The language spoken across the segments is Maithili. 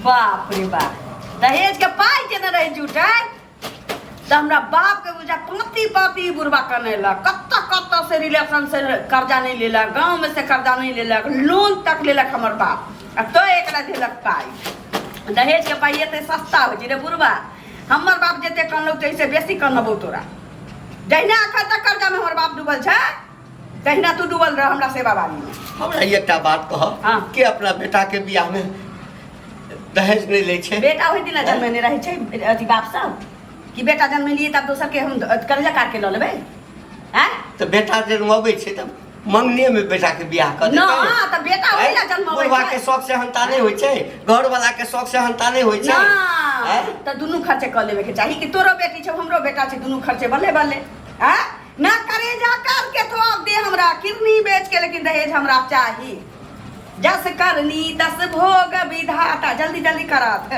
बाप रे बाप दहेज के पाइ केने रही जुटे तऽ हमरा बाप के बुझा पाँती पाँती बुढ़बा कनेलक कतऽ कतऽ से रिलेशन से कर्जा नहीं लेलक गाँव में से कर्जा नहीं लेलक लोन तक लेलक हमर बाप आ तो एकरा देलक पाइ दहेज के पाइ एते सस्ता होइ छै रे बुढ़बा हमर बाप जते कनलौ तैसे बेसी कनबौ तोरा जहिना अखन तक कर्जा में हमर बाप डूबल छै तहिना तू डूबल रह हमरा सेवा बारी में हमरा ई एकटा बात कह हाँ। के अपना बेटा के बियाह में दहेज नहीं ले छे बेटा ओहि दिन जन्म में रहे छै अथी बाप सब कि बेटा जन्म में लिए तब दोसर के हम अथी कर्जा काट के लऽ लेबै हैं तो बेटा जन्मबै छे तब मंगने में बेटा के बियाह कर ना, तो बेटा ओहि ला जन्मबै बुढ़वा छै। के शौक से हंता नहीं होय छे घर वाला के शौक से हंता नहीं होय छे ना हैं? तऽ दुनू खर्चे कऽ लेबे के चाही कि तोरो बेटी छौ हमरो बेटा छै दुनू खर्चे बल्ले बल्ले हैं ना करेजा कर के तो आप दे हमरा किडनी बेच के लेकिन दहेज हमरा चाही जस करनी तस भोग विधाता जल्दी जल्दी करात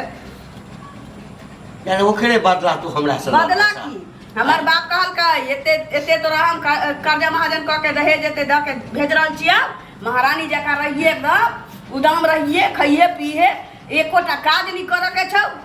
यानी ओकरे बदला तू हमरा से बदला की हमर बाप कहल का एते एते तोरा हम कर- कर्जा महाजन कह के दहेज एते द के भेज रहल छिया महारानी जका रहिए एकदम उदम रहिए खइए पीहे एको टा काज नहीं करे के छौ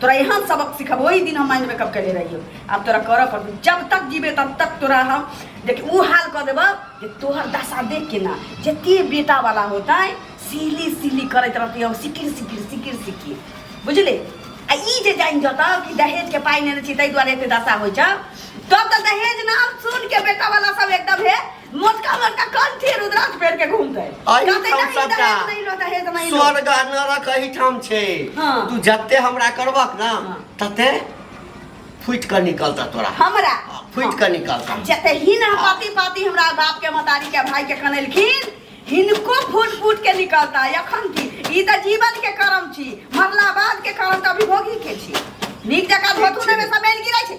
तोरा यहाँ सबक सिखब वही दिन हम माइंड मेकअप कैले रहियो अब तोरा करऽ पड़तो जब तक जीबे तब तक तोरा हम देख ऊ हाल कऽ देबऽ जे तोहर दशा देख के ना जते बेटा वाला होता है सीली सीली करैत रहती हम सिकिर सिकिर सिकिर सिकिर बुझले आ ई जे जानि जतऽ कि दहेज के पाइ नेने छी ताहि दुआरे एते दशा होइ छौ तब तऽ दहेज नाम सुन के बेटा वाला सब एकदम हे मोटका मोटका कान थे रुद्राक्ष फेर के घूमते अहि कहते ठाम नहीं सबटा। दहेज नहीं लो दहेज नहीं लो स्वर्ग आ नरक अहि ठाम छै हाँ। तू जते हमरा करबक ना हाँ। तते फुटि कऽ निकलता तोरा हमरा फुटि कऽ निकलता जते ही ना पाती पाती हमरा बाप के मतारी के भाई के कनेलखिन हिनको फूट फूट के निकलता एखन की ई त जीवन के कर्म छी मरला बाद के कर्म त अभी भोगी के छी नीक जकाँ धोतू ने में समेल गिरै छै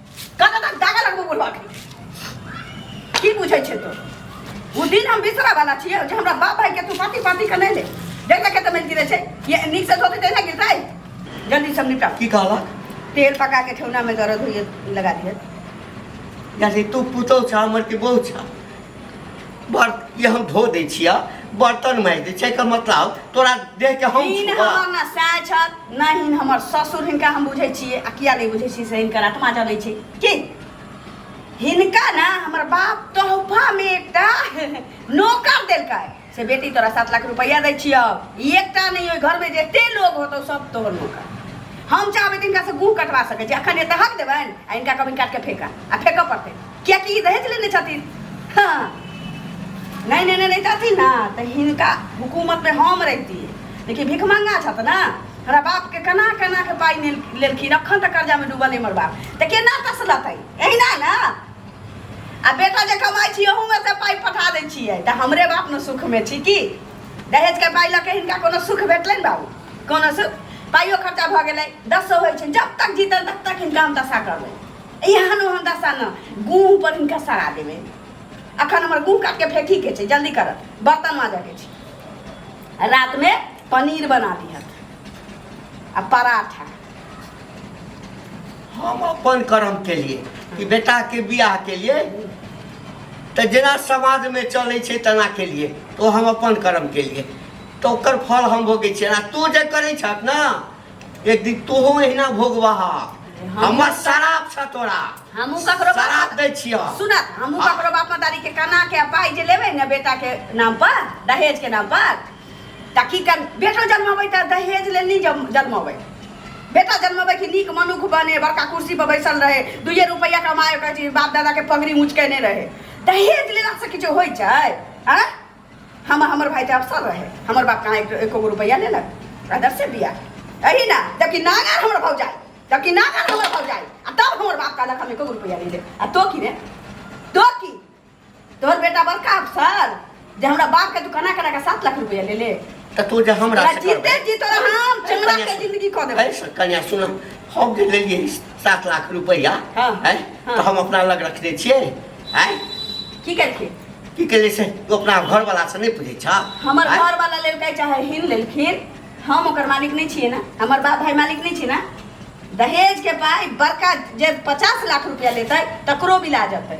कत तक दागा लगबो बोलबा के की बुझै छै तो ओ दिन हम बिसरा वाला छियै जे हमरा बाप भाई के तू पाती पाती के नहीं ले देख देख के तो मिल गिरे छै ये नीक से धोते तैना गिरतै जल्दी सब निपटा की कहला तेल पका के ठेहुना में दर्द होइए लगा दिए यानी तू पुतौ छा हमर के बहु छा बर ये हम धो दै छिया बर्तन माजि दै छै एकर मतलब तोरा देह के हम हिन छुआ। हमर ना साय छत ना हिन हमर ससुर हिनका हम बुझै छियै आ किया नहि बुझै छियै से हिनकर आत्मा जलै छै की हिनका ना हमर बाप तोहफा मे एकटा नौकर देलकै से बेटी तोरा सात लाख रुपैआ दै छियौ ई एकटा नहि ओहि घरमे जते लोग होतौ सब तोहर मौका हम चाहबै तऽ हिनकासँ गुह कटवा सकै छी अखन एतऽ हक देबनि आ हिनका कभी काटिके फेंका आ फेंकऽ पड़तै कियाकि ई दहेज लेने छथिन हँ नहि नहि नहि रहितथिन ने तऽ हिनका हुकूमतमे हम रहितियै लेकिन भिखमंगा छथि ने हमरा बापके केना केना के पाइ लेल- लेलखिन अखन तक कर्जामे डूबल अइ हमर बाप तऽ केना तसलतै एहिना ने आ बेटा जे कमाइ छी ओहूमे से पाइ पठा दै छियै तऽ हमरे बाप ने सुखमे छी की दहेजके पाइ लऽ के हिनका कोनो सुख भेटलै ने बाबू कोनो सुख पाइयो खर्चा भऽ गेलै दसो होइ छै जब तक जीतल तब तक हिनका हम दशा करबै एहन ओहन दशा ने गूँह पर हिनका सरा देबै अखन हमर गूँह काटके फेंकीके छै जल्दी करत बर्तन माजयके छै रातिमे पनीर बना दिहत आ पराठा हम अपन कर्म केलिए कि बेटा के बियाह केलिए तऽ जेना समाज में चले छै तेना केलिए तो हम अपन कर्म केलिए तो ओकर फल हम भोगे छियै आ तू जे करे छक ना एक दिन तोहो अहिना भोगबहा हमर शराब छ तोरा हमहूँ ककरो बाप- शराब दै छियह सुनत हमहूँ ककरो बाप मतारी के कना के पाइ जे लेबै ने बेटा के नाम पर दहेज के नाम पर तऽ की कर बेटो जन्मबै तऽ दहेज लेल नहि जन्मबै बेटा जन्मबै कि नीक मनुख बने बड़का कुर्सी पर बैसल रहे दुइए रुपैआ कमाए कहै छी बाप दादाके पगड़ी उचकेने रहे दहेज लेलासँ किछु होइ छै आँय हम हमर भाइ तऽ अफसर रहे हमर बाप कहाँ एक एको रुपैआ लेलक अदर से बिया अही ना जबकि नागर हमर भौ जाए जबकि नागर हमर भौ जाए आ तब हमर बाप कहलक हम एको रुपैआ नहीं ले आ तो की रे तो की तोहर बेटा बड़का अफसर जे हमरा बाप के तू कना कना के सात लाख रुपया ले ले तऽ तू जे हमरा तोरा से जीते करबै- जी तोरा हम चमड़ा के जिंदगी कह देबै है, कन्या सुन हम जे लेलियै सात लाख रुपैआ हाँ, है हाँ। तऽ हम अपना लग रखने छियै है की करके की कहलियै से तू अपना घरवाला से नहि पूछै छ हमर हैं? घर वाला लेलकै चाहे हिन लेलखिन हम ओकर मालिक नहीं छिए ना हमर बाप भाई मालिक नहीं छिए ना दहेज के पाई बड़का जे पचास लाख रुपया लेतै तकरो बिला जेतै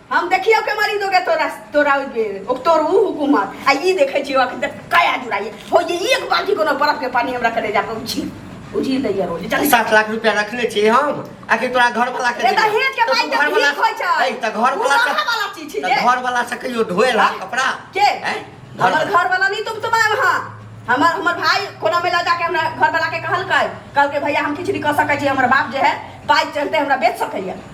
हम देखियो के मारी दोगे तोरा तोरा ओइ बेर ओ तोर ऊ हुकूमत आ ई देखै छियो अखन तक काया जुड़ाइए हो जे एक बाल्टी कोनो बर्फ के पानी हमरा करे जाके उछी उझी दैया रोज चल सात लाख रुपया रखले छी हम आखिर तोरा घर वाला के ए त देबे। हेत के तो भाई तू त घर वाला भीख होइ छै ऐ, त घर वाला मुनाफा वाला चीज छै त जे। घर वाला से कहियो धोए ला कपड़ा के ऐ, घर हमर वाला- घर वाला नहीं तुम तुम हां हमर हमर भाई कोना में ला जाके हमरा घर वाला के कहलकै कहलकै भैया हम किछु नहीं कह सकै छी हमर बाप जे है पाइ चलते हमरा बेच सकैया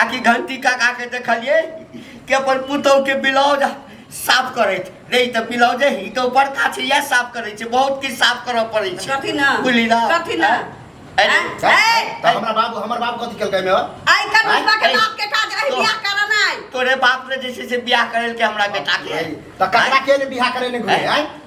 आ कि घंटी काका के देखलिए कि अपन पुतौ के ब्लाउज साफ करैत रे ई तऽ ब्लाउजे ही तऽ ऊपर काछी या साफ करै छै बहुत किछु साफ करऽ पड़ै छै कथी ना बुझली ना कथी ना अरे, हैं? हैं? त हमरा बाबू हमर बाप कथी केलकै एमे हो? आई कर आँय? बाप के ऐ, बाप के काज आई तो- बियाह करा नहीं तोरे बाप ने जैसे से बियाह करल के हमरा बेटा के त ककरा के ने बियाह करे ने घुरे हैं? आय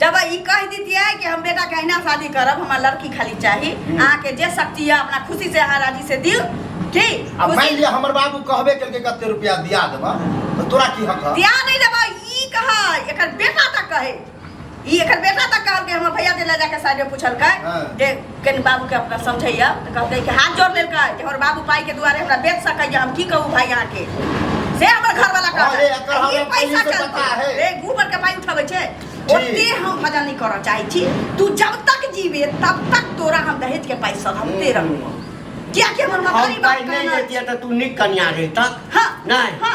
जब ई कह दीतिए कि हम बेटा के अहिना शादी करब हमरा लड़की खाली चाही अहाँ के जे शक्ति है अपना खुशी से अहाँ राजी से दियो ठीक अब मान लिया हमर बाबू कहबे कल के कते रुपया दिया देबा तो तोरा की हक है दिया नहीं देबा ई कह एकर बेटा तक कहे ई एकर बेटा तक कहल के हमर भैया दे ले जाके साइड में पूछल के हाँ। जे कनि बाबूके अपना समझैया तऽ कहतै कि हाथ जोड़ लेलकै जे हमर बाबू पाइके दुआरे हमरा बेच सकैया हम की कहू भाय अहाँके से हमर घरवाला अरे, एकर कहलक हमरा ई पैसा पहिले से पता चलतै है। रे गोबर के पानि उठबै छै जी। ओते हम भजन नहि करऽ चाहै छी तू जब तक जीवे तब तक तोरा हम दहेज के पाइ सधबते रहू कियाकि हमर हम मतारी बाप पाइ नहि कहने लैतियै तऽ तू नीक कनिया रहितक हँ, नहि हँ।